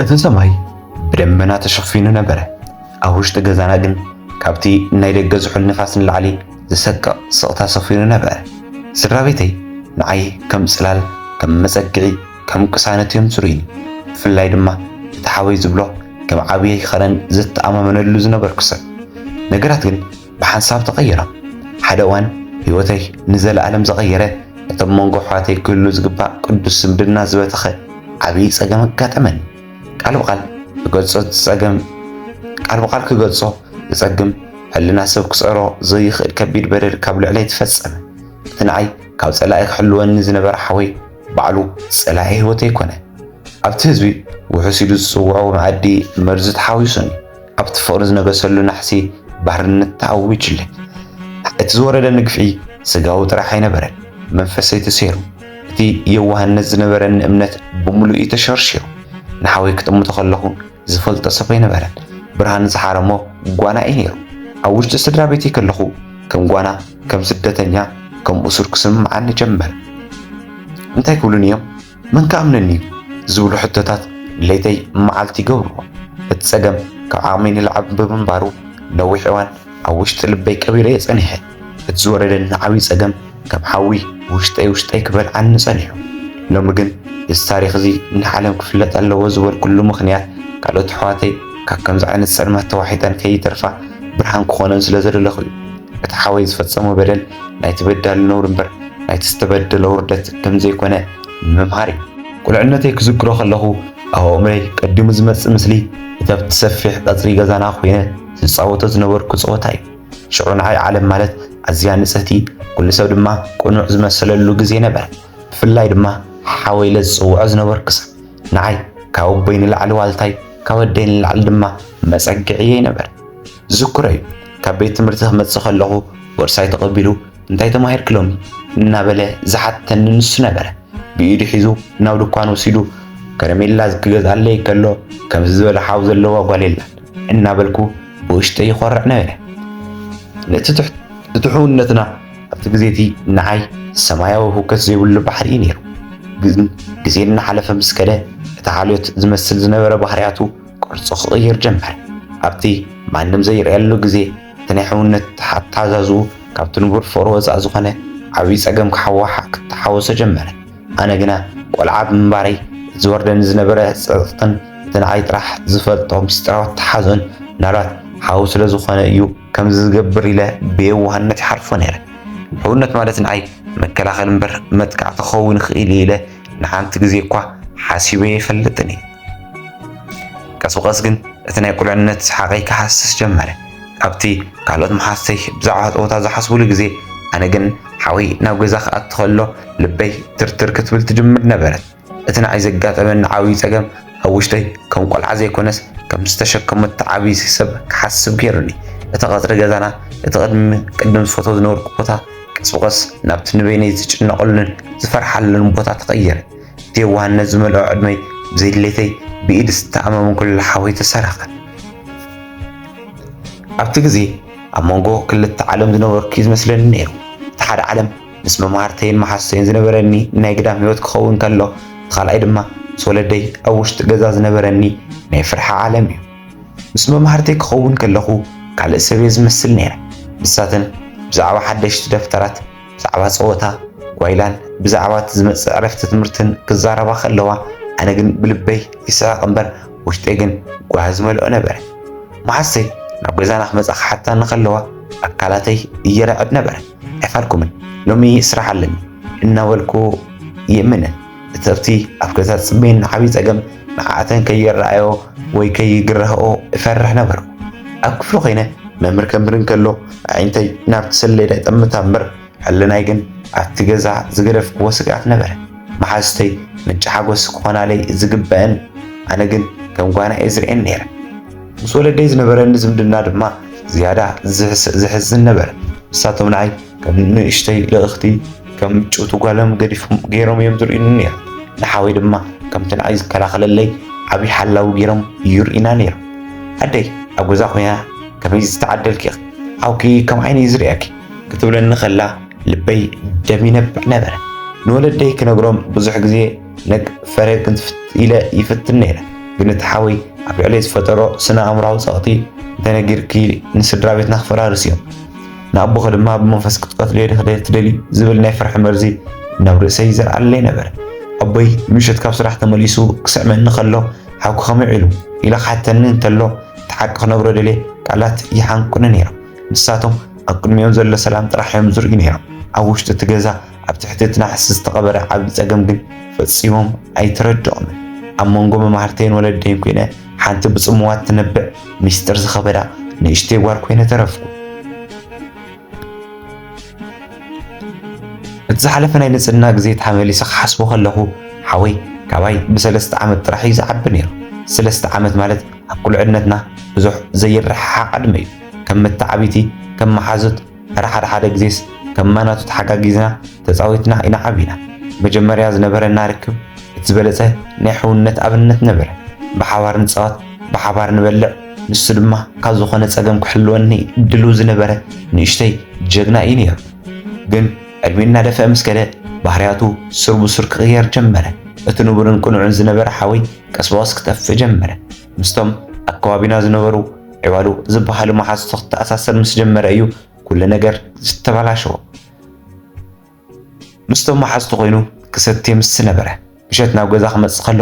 እቲ ሰማይ ብደመና ተሸፊኑ ነበረ፣ ኣብ ውሽጢ ገዛና ግን ካብቲ ናይ ደገ ዝሑል ንፋስ ንላዕሊ ዝሰቅቕ ስቕታ ሰፊኑ ነበረ። ስድራ ቤተይ ንዓይ ከም ጽላል፣ ከም መጸግዒ፣ ከም ቅሳነት እዮም ዝርእዩኒ። ብፍላይ ድማ እቲ ሓወይ ዝብሎ ከም ዓብየይ ኸረን ዘተኣማመነሉ ዝነበርኩ ሰብ። ነገራት ግን ብሓንሳብ ተቐይራ። ሓደ እዋን ህይወተይ ንዘለኣለም ዘቐየረ፣ ነቶም መንጎ ኣሕዋተይ ክህሉ ዝግባእ ቅዱስ ዝምድና ዝበተኸ ዓብይ ጸገም ኣጋጠመኒ። ቃል ብቓል ክገልጾ ዝጸገም ቃል ብቓል ክገልጾ ዘጸግም፣ ሕልና ሰብ ክጸሮ ዘይኽእል ከቢድ በደል ካብ ልዕለይ ተፈጸመ። እቲ ንዓይ ካብ ጸላኢ ክሕልወኒ ዝነበረ ሓወይ ባዕሉ ጸላኢ ህይወተይ ኮነ። ኣብቲ ህዝቢ ውሑስ ኢሉ ዝጽውዖ መኣዲ መርዚ ተሓዊሱኒ። ኣብቲ ፍቕሪ ዝነገሰሉ ናሕሲ ባርነት ተኣዊጁለ። እቲ ዝወረደኒ ግፍዒ ስጋዊ ጥራሕ ኣይነበረን፣ መንፈሰይ ተሰይሩ፣ እቲ የዋህነት ዝነበረኒ እምነት ብምሉኡ ተሸርሺሩ። ንሓወይ ክጥምቶ ከለኹ ዝፈልጦ ሰብ ኣይነበረን፣ ብርሃን ዝሓረሞ ጓና እዩ ነይሩ። ኣብ ውሽጢ ስድራ ቤተይ ከለኹ ከም ጓና፣ ከም ስደተኛ፣ ከም እሱር ክስምዓኒ ጀመረ። እንታይ ክብሉኒ እዮም? መን ክኣምነኒ እዩ ዝብሉ ሕቶታት ለይተይ መዓልቲ ይገብርዎ። እቲ ጸገም ካብ ዓቕመይ ንላዕሊ ብምንባሩ ነዊሕ እዋን ኣብ ውሽጢ ልበይ ቀቢረዮ ጸኒሐ። እቲ ዝወረደኒ ዓብዪ ጸገም ከም ሓዊ ውሽጠይ ውሽጠይ ክበልዓኒ ጸኒሑ። ሎሚ ግን እዚ ታሪኽ እዚ ንዓለም ክፍለጥ ኣለዎ ዝበልኩሉ ምኽንያት ካልኦት ኣሕዋተይ ካብ ከምዚ ዓይነት ጸልማት ተዋሒጠን ከይተርፋ ብርሃን ክኾነን ስለዝደለኹ እዩ። እቲ ሓወይ ዝፈጸሞ በደል ናይቲ በዳሊ ነውሪ እምበር ናይቲ ዝተበደለ ውርደት ከም ዘይኮነ ንምምሃር እዩ። ቁልዕነተይ ክዝክሮ ከለኹ ኣብ ኣእምሮይ ቀዲሙ ዝመጽእ ምስሊ እቲ ኣብቲ ሰፊሕ ቀጽሪ ገዛና ኮይነ ዝጻወቶ ዝነበርኩ ጸወታ እዩ። ሽዑ ንዓይ ዓለም ማለት ኣዝያ ንጽህቲ ኩሉ ሰብ ድማ ቅኑዕ ዝመሰለሉ ግዜ ነበረ። ብፍላይ ድማ ሓወይ ኢለ ዝጽውዖ ዝነበርኩ ሰብ ንዓይ ካብ ኣቦይ ንላዕሊ ዋልታይ ካብ ኣደይ ንላዕሊ ድማ መጸግዕየይ ነበረ። ዝኩረይ ካብ ቤት ትምህርቲ ክመጽእ ከለኹ ቦርሳይ ተቐቢሉ እንታይ ተማሂርክ ሎሚ እናበለ ዝሓተኒ ንሱ ነበረ። ብኢዱ ሒዙ ናብ ድኳን ወሲዱ ከረሜላ ክገዝኣለይ ከሎ ከምዚ ዝበለ ሓው ዘለዋ ጓል የላን እናበልኩ ብውሽጠይ ይኾርዕ ነበረ። ነቲ ትሑውነትና ኣብቲ ግዜ እቲ ንዓይ ሰማያዊ ህውከት ዘይብሉ ባሕሪ እዩ ነይሩ። ግን ግዜ እናሓለፈ ምስ ከደ እቲ ሓልዮት ዝመስል ዝነበረ ባህርያቱ ቅርጹ ክቕይር ጀመረ። ኣብቲ ማንም ዘይርእየሉ ግዜ እቲ ናይ ሕውነት ኣተሓዛዝኡ ካብቲ ንቡር ፍቕሪ ወጻኢ ዝኾነ ዓብዪ ጸገም ክተሓወሶ ጀመረ። ኣነ ግና ቆልዓ ብምንባረይ እቲ ዝወርደኒ ዝነበረ ጸጸትን እቲ ንዓይ ጥራሕ ዝፈልጦ ምስጢራዊ ኣተሓዝኦን ምናልባት ሓው ስለ ዝኾነ እዩ ከምዚ ዝገብር ኢለ ብየዋህነት ይሓልፎ ነይረ። ሕውነት ማለት ንዓይ መከላኸሊ እምበር መጥቃዕቲ ክኸውን ይኽእል እዩ ኢለ ንሓንቲ ግዜ እኳ ሓሲበ ኣይፈልጥን እየ። ቀስ ብቐስ ግን እቲ ናይ ቁልዕነት ሰሓቐይ ክሃስስ ጀመረ። ካብቲ ካልኦት መሓዝተይ ብዛዕባ ጸወታ ዝሓስቡሉ ግዜ፣ ኣነ ግን ሓወይ ናብ ገዛ ክኣቱ ከሎ ልበይ ትርትር ክትብል ትጅምር ነበረት። እቲ ንዓይ ዘጋጠመኒ ዓብዪ ጸገም ኣብ ውሽጠይ ከም ቆልዓ ዘይኮነስ ከም ዝተሸከመት ትዓብዪ ሰብ ክሓስብ ገይሩኒ። እቲ ቀጽሪ ገዛና፣ እቲ ቅድሚ ቅድም ዝፈትዎ ዝነበርኩ ቦታ፣ ቀስ ብቐስ ናብቲ ንበይነይ ዝጭነቐሉን ዝፈርሓሉን ቦታ ተቐየረ። እቲ የዋህነት ዝመልኦ ዕድመይ ብዘይድሌተይ ብኢድ ዝተኣመመ ኩሉ ሓወይ ተሰረቐ። ኣብቲ ግዜ ኣብ መንጎ ክልተ ዓለም ዝነበርኩ እዩ ዝመስለኒ ነይሩ። እቲ ሓደ ዓለም ምስ መማህርተይን መሓዙተይን ዝነበረኒ ናይ ግዳም ህይወት ክኸውን ከሎ፣ እቲ ካልኣይ ድማ ምስ ወለደይ ኣብ ውሽጢ ገዛ ዝነበረኒ ናይ ፍርሒ ዓለም እዩ። ምስ መማህርተይ ክኸውን ከለኹ ካልእ ሰብ'የ ዝመስል ነይረ። ንሳተን ብዛዕባ ሓደሽቲ ደፍተራት፣ ብዛዕባ ጸወታ ጓይላን ብዛዕባ'ቲ ዝመጽእ ዕረፍቲ ትምህርትን ክዛረባ ከለዋ፣ ኣነ ግን ብልበይ ይስሕቕ እምበር ውሽጠይ ግን ጓሂ ዝመልኦ ነበረ። መሓዝተይ ናብ ገዛና ክመጻ ክሓታኒ ከለዋ ኣካላተይ ይርዕድ ነበረ። ኣይፋልኩምን ሎሚ ስራሕ ኣለኒ እናበልኩ ይእምነን። እተብቲ ኣብ ገዛ ዝጽበየኒ ዓብዪ ጸገም ንዓኣተን ከይረኣዮ ወይ ከይግረህኦ እፈርሕ ነበርኩ። ኣብ ክፍሊ ኮይነ መምህር ከምህር እንከሎ ኣዒንተይ ናብቲ ሰሌዳ ይጠምታ እምበር ሕልናይ ግን ኣብቲ ገዛ ዝገደፍክዎ ስግኣት ነበረ። መሓዙተይ ምንጪ ሓጎስ ክኾናለይ ዝግበእን ኣነ ግን ከም ጓና እየ ዝርእየን ነይረ። ምስ ወለደይ ዝነበረኒ ዝምድና ድማ ዝያዳ ዝሕስን ነበረ። ንሳቶም ንዓይ ከም ንእሽተይ ልእኽቲ ከም ምጭውቲ ጓሎም ገዲፎም ገይሮም እዮም ዝርእዩኒ ነይሮም። ንሓወይ ድማ ከምቲ ንዓይ ዝከላኸለለይ ዓብዪ ሓላዊ ገይሮም ይርእዩና ነይሮም። ኣደይ ኣብ ገዛ ኮይና ከመይ ዝተዓደልኪ ኢኺ ሓውኪ ከም ዓይኒ እዩ ዝርእየኪ ክትብለኒ ከላ ልበይ ደም ይነብዕ ነበረ። ንወለደይ ክነግሮም ብዙሕ ግዜ ነግ ፈረ ክንትፍት ኢለ ይፍትን ነይረ። ግን እቲ ሓወይ ኣብ ልዕለይ ዝፈጠሮ ስነ ኣእምራዊ ጸቕጢ እንተነጊርኪ ንስድራ ቤትና ክፈራርስ እዮም ንኣቦኺ ድማ ብመንፈስ ክትቀትልዮ ዲኺ ትደልዩ ዝብል ናይ ፍርሒ መርዚ ናብ ርእሰይ ይዘርኣለይ ነበረ። ኣቦይ ምሸት ካብ ስራሕ ተመሊሱ ክስዕመኒ ከሎ ሓውኪ ከመይ ዒሉ ኢለ ክሓተኒ እንተሎ እቲ ሓቂ ክነግሮ ደልየ ቃላት ይሓንቁኒ ነይሮም። ንሳቶም ኣብ ቅድሚኦም ዘሎ ሰላም ጥራሕ እዮም ዝርእዩ ነይሮም። ኣብ ውሽጢ እቲ ገዛ ኣብ ትሕቲ እቲ ናሕሲ ዝተቐበረ ዓብዪ ጸገም ግን ፈጺሞም ኣይተረድኦምን። ኣብ መንጎ መማህርተይን ወለደይን ኮይነ ሓንቲ ብጽምዋ ትነብዕ ምስጢር ዝኸበዳ ንእሽተይ ጓል ኮይነ ተረፍኩ። እቲ ዝሓለፈ ናይ ንጽህና ግዜ ተመሊሰ ክሓስቦ ከለኹ ሓወይ ካባይ ብሰለስተ ዓመት ጥራሕ እዩ ዝዓቢ ነይሩ። ሰለስተ ዓመት ማለት ኣብ ቁልዕነትና ብዙሕ ዘይረሓሓቕ ዕድመ እዩ። ከም መተዓብይቲ፣ ከም መሓዙት ተራ ሓደ ሓደ ግዜስ ከም ማናቱ ተሓጋጊዝና ተጻዊትና ኢና ዓቢና። መጀመርያ ዝነበረና ርክብ እቲ ዝበለጸ ናይ ሕውነት ኣብነት ነበረ። ብሓባር ንጻወት፣ ብሓባር ንበልዕ፣ ንሱ ድማ ካብ ዝኾነ ጸገም ክሕልወኒ ድልው ዝነበረ ንእሽተይ ጀግና እዩ ነይሩ። ግን ዕድሚኡ እናደፍአ ምስ ከደ ባህርያቱ ሱር ብሱር ክቕየር ጀመረ። እቲ ንቡርን ቅኑዕን ዝነበረ ሓወይ ቀስ ብቐስ ክጠፍእ ጀመረ። ምስቶም ኣብ ከባቢና ዝነበሩ ዕባሉ ዝበሃሉ መሓዙቱ ክተኣሳሰር ምስ ጀመረ እዩ ኩሉ ነገር ዝተበላሸወ። ምስቶም መሓዙቱ ኮይኑ ክሰቲ ምስ ነበረ ምሸት ናብ ገዛ ክመጽእ ከሎ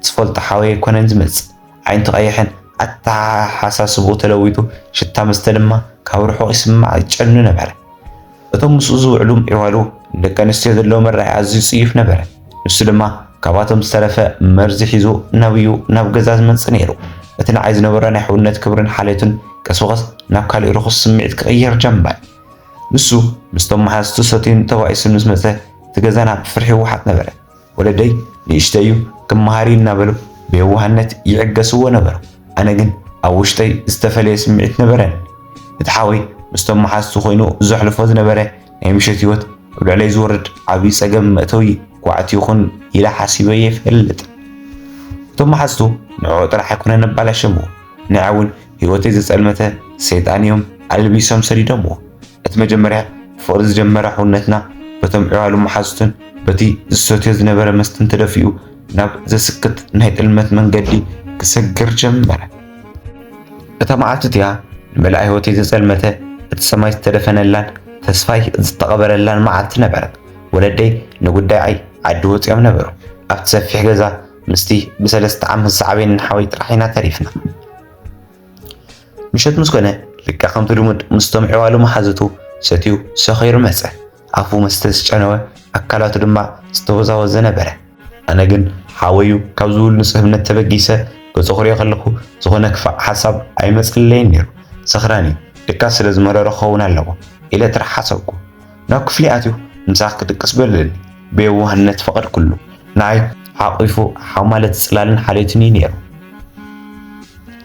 ዝፈልጦ ሓወይ ኣይኮነን ዝመጽእ። ዓይንቱ ቀይሕን ኣተሓሳስብኡ ተለዊጡ ሽታ መስተ ድማ ካብ ርሑቕ ይስማዕ ይጨኑ ነበረ። እቶም ምስኡ ዝውዕሉ ዒዋሉ ንደቂ ኣንስትዮ ዘለዎ መርኣያ ኣዝዩ ጽዩፍ ነበረ። ንሱ ድማ ካብኣቶም ዝተረፈ መርዚ ሒዙ ናብዩ ናብ ገዛ ዝመጽእ ነይሩ። እቲ ንዓይ ዝነበሮ ናይ ሕውነት ክብርን ሓልዮትን ቀስ ብቐስ ናብ ካልእ ርኹስ ስምዒት ክቕየር ጀመረ። ንሱ ምስቶም መሓዝቱ ሰትዩን ተባኢሱን ምስ መጸ እቲ ገዛና ብፍርሒ ይወሓጥ ነበረ። ወለደይ ንእሽተይ እዩ ክመሃር እዩ እናበሉ ብየዋህነት ይዕገስዎ ነበሩ። ኣነ ግን ኣብ ውሽጠይ ዝተፈለየ ስምዒት ነበረኒ። እቲ ሓወይ ምስቶም መሓዝቱ ኮይኑ ዘሕልፎ ዝነበረ ናይ ምሸት ህይወት ኣብ ልዕለይ ዝወርድ ዓብዪ ጸገም መእተዊ ጓዕት ይኹን ኢለ ሓሲበ ኣይፈልጥን። እቶም መሓዝቱ ንዕኡ ጥራሕ ኣይኮነን ኣባላሸምዎ፣ ንዐ እውን ህይወተይ ዘጸልመተ ሰይጣን እዮም ኣልቢሶም ሰዲዶምዎ። እቲ መጀመርያ ፍቕሪ ዝጀመረ ሕውነትና በቶም ዕባሉ መሓዙቱን በቲ ዝሰትዮ ዝነበረ መስተን ተደፊኡ ናብ ዘስክት ናይ ጥልመት መንገዲ ክሰግር ጀመረ። እታ መዓልቲ እቲኣ ንመላእ ህይወተይ ዘጸልመተ እቲ ሰማይ ዝተደፈነላን ተስፋይ ዝተቐበረላን መዓልቲ ነበረት። ወለደይ ንጉዳይ ዓይ ዓዲ ወጺኦም ነበሩ። ኣብቲ ሰፊሕ ገዛ ምስቲ ብሰለስተ ዓመት ዝሰዓበኒ ሓወይ ጥራሕ ኢና ተሪፍና። ምሸት ምስ ኮነ ልክዕ ከምቲ ልሙድ ምስቶም ኣሕዋሉ መሓዙቱ ሰትዩ ሰኺሩ መጸ። ኣፉ መስተ ዝጨነወ፣ ኣካላቱ ድማ ዝተወዛወዘ ነበረ። ኣነ ግን ሓወዩ ካብ ዝብሉ ንጹህ እምነት ተበጊሰ ገጹ ክርእዮ ከለኹ ዝኾነ ክፋእ ሓሳብ ኣይመጸለይን ነይሩ። ሰኽራን'ዩ፣ ድቃስ ስለ ዝመረሮ ክኸውን ኣለዎ ኢለ ጥራሕ ሓሰብኩ። ናብ ክፍሊ ኣትዩ ምሳኽ ክድቅስ በለኒ። ብየዋህነት ፈቐድኩሉ። ንኣይ ሓቚፉ ሓማለ ጽላልን ሓልዮትን እዩ ነይሩ።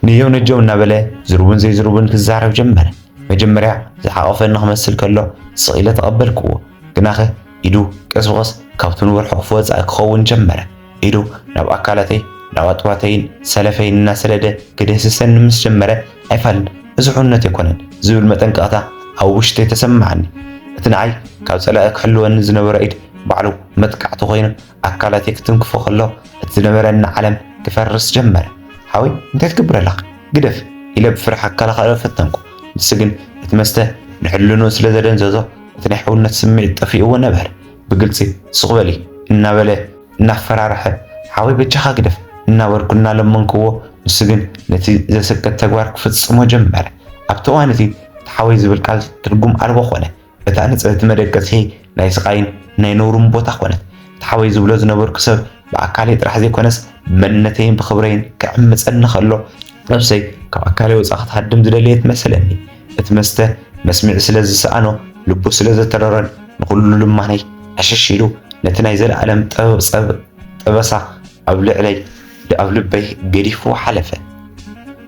ነጀው ነጀው እናበለ ዝርቡን ዘይዝርቡን ክዛረብ ጀመረ። መጀመርያ ዝሓቖፈኒ ክመስል ከሎ ስቕ ኢለ ተቐበልክዎ። ግናኸ ኢዱ ቀስ ብቐስ ካብቲ ንብር ሕቝፊ ወጻኢ ክኸውን ጀመረ። ኢዱ ናብ ኣካላተይ ናብ ኣጥባተይን ሰለፈይን እናሰደደ ክድህስሰኒ ምስ ጀመረ ኣይፋል እዚ ሕውነት ኣይኮነን ዝብል መጠንቀቕታ ኣብ ውሽጠይ ተሰማዓኒ። እቲ ንዓይ ካብ ጸላኢ ክሕልወኒ ዝነበሮ ኢድ ባዕሉ መጥቃዕቲ ኮይኑ ኣካላተይ ክትንክፎ ከሎ እቲ ዝነበረኒ ዓለም ክፈርስ ጀመረ። ሓወይ እንታይ ትገብር ኣለኻ ግደፍ ኢለ ብፍርሒ ክከላኸሎ ፈተንኩ ንሱ ግን እቲ መስተ ንሕልንኡ ስለ ዘደንዘዞ እቲ ናይ ሕውነት ስምዒት ጠፊእዎ ነበረ። ብግልፂ ሱቕ በሊ እናበለ እናፈራርሐ ሓወይ በጃኻ ግደፍ እናበልኩ እናለመንክዎ ንሱ ግን ነቲ ዘስቅት ተግባር ክፍፅሞ ጀመረ። ኣብቲ እዋን እቲ እቲ ሓወይ ዝብል ቃል ትርጉም ኣልቦ ኮነ። እታ ንፅህቲ መደቀሲ ናይ ስቓይን ናይ ነውርን ቦታ ኮነት። እቲ ሓወይ ዝብሎ ዝነበርኩ ሰብ ብኣካለይ ጥራሕ ዘይኮነስ ብመንነተይን ብኽብረይን ክዕምፀኒ ከሎ ነብሰይ ካብ ኣካለይ ወፃእ ክትሃድም ዝደለየት መሰለኒ። እቲ መስተ መስምዒ ስለ ዝሰኣኖ ልቡ ስለ ዘተረረን ንኹሉ ልማነይ ዕሽሽ ኢሉ ነቲ ናይ ዘለኣለም ጠበሳ ኣብ ልዕለይ ኣብ ልበይ ገዲፍዎ ሓለፈ።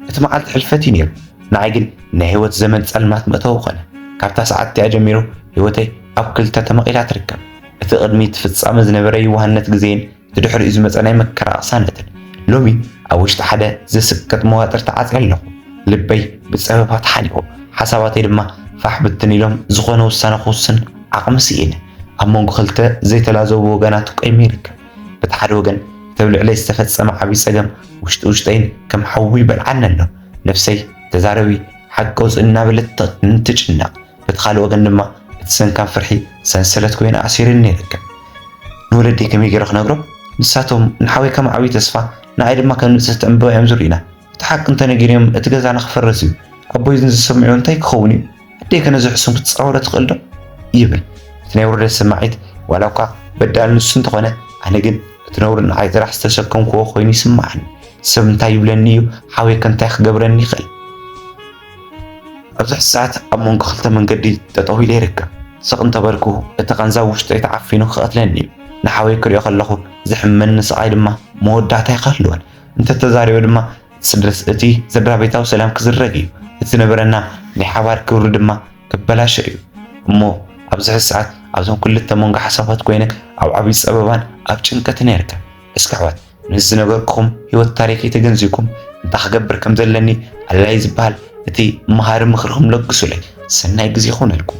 እቲ መዓልቲ ሕልፈት እዩ ነይሩ፣ ንዓይ ግን ናይ ህይወት ዘመን ፀልማት መእተዊ ኮነ። ካብታ ሰዓት እቲኣ ጀሚሩ ህይወተይ ኣብ ክልተ ተመቒላ ትርከብ። እቲ ቅድሚ'ቲ ፍጻመ ዝነበረ የዋህነት ግዜን እቲ ድሕሪኡ ዝመጸ ናይ መከራ ቅሳነትን፣ ሎሚ ኣብ ውሽጢ ሓደ ዘስቅጥ መዋጥር ተዓጽየ ኣለኹ። ልበይ ብጸበባ ተሓኒቑ፣ ሓሳባተይ ድማ ፋሕ ብትን ኢሎም ዝኾነ ውሳነ ክውስን ዓቕሚ ስኢነ። ኣብ መንጎ ክልተ ዘይተላዘቡ ወገናት ቆይመ ይርከብ። በቲ ሓደ ወገን እቲ ኣብ ልዕለይ ዝተፈጸመ ዓቢ ጸገም ውሽጢ ውሽጠይን ከም ሓዊ ይበልዓኒ ኣሎ። ነፍሰይ ተዛረቢ፣ ሓቂ ኣውጽኢ እናበለት ትጭነቕ። በቲ ካልእ ወገን ድማ እቲ ሰንካም ፍርሒ ሰንሰለት ኮይኑ ኣሲሩኒ ይርከብ። ንወለደይ ከመይ ገይረ ክነግሮም? ንሳቶም ንሓወይ ከም ዓብዪ ተስፋ ንኣይ ድማ ከም ንጽህቲ ዕምበባ እዮም ዝርእዩና። እቲ ሓቂ እንተነጊረዮም እቲ ገዛና ክፈርስ እዩ። ኣቦይ እዚ ዝሰምዕዎ እንታይ ክኸውን እዩ? ኣደይ ከ ነዚ ሕሱም ክትጻወሮ ትኽእል ዶ? ይብል። እቲ ናይ ውርደት ስምዒት ዋላ እኳ በዳሊ ንሱ እንተኾነ ኣነ ግን እቲ ነውሪ ንዓይ ጥራሕ ዝተሰከምክዎ ኮይኑ ይስምዓኒ። ሰብ እንታይ ይብለኒ እዩ? ሓወይ ከ እንታይ ክገብረኒ ይኽእል? ኣብዚ ሕዚ ሰዓት ኣብ መንጎ ክልተ መንገዲ ጠጠው ኢለ ይርከብ። ስቕ እንተበልኩ እቲ ቃንዛ ኣብ ውሽጠይ ተዓፊኑ ክቐትለኒ እዩ። ንሓወይ ክሪኦ ከለኹ ዘሕምመኒ ስቓይ ድማ መወዳእታ ኣይክህልዎን። እንተተዛሪበ ድማ እቲ ስድራቤታዊ ሰላም ክዝረግ እዩ። እቲ ዝነበረና ናይ ሓባር ክብሪ ድማ ክበላሾ እዩ። እሞ ኣብዚ ሕዚ ሰዓት ኣብዞም ክልተ መንጎ ሓሳባት ኮይነ ኣብ ዓብይ ጸበባን ኣብ ጭንቀትን እየ እርከብ። እስኪ ኣሕዋት ምስ ዝነበርክኹም ህይወት ታሪኸይ ተገንዚብኩም እንታይ ክገብር ከም ዘለኒ ኣላይ ዝበሃል እቲ መሃሪ ምኽርኹም ለግሱለይ። ሰናይ ግዜ ይኹነልኩም።